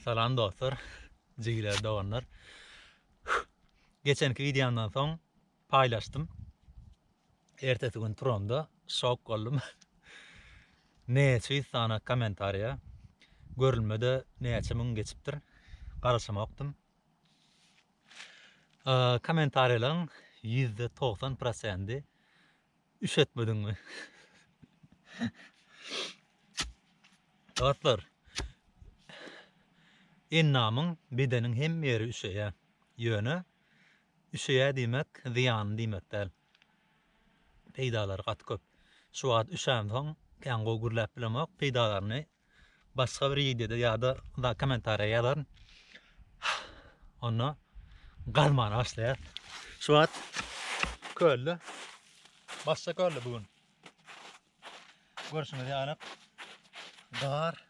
Salam dostlar, jigler, doganlar. Geçenki wideomdan soň paýlaşdym. Ertesi gün turamda şok boldum. Näçe ýüz sany kommentariýa, görülmede näçe müň geçipdir. Garaşamakdym. Kommentariýalaryň %90 prosendi Üşetmediňmi? Dostlar, endamyň, bedeniň hemme ýeri üşeýär. Ýöne üşeýär diýmek zyýanly diýmek däl. Peýdalary gaty köp. Şu wagt üşänsoň, kän gowy gürläp bilemok, peýdalaryny başga bir wideoda ýa-da kommentariýa ýazaryn. Onda gazmana başlaýar. Şu wagt kölde başga kölde bu gün. Görşüňiz ýaly gar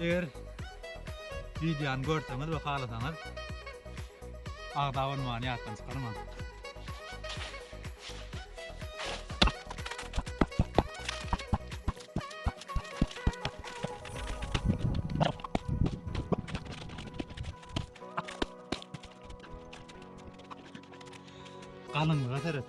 Eger videony görseňiz we halasaňyz agza bolmany ýatdan çykarmaň. Galyňlyga seret.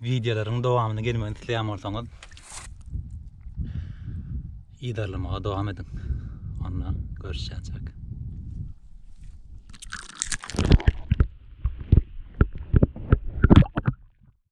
Wideolaryň dowamyny gelmegini isleýän bolsaňyz idarlamaga dowam ediň. Onda görüşýäçek.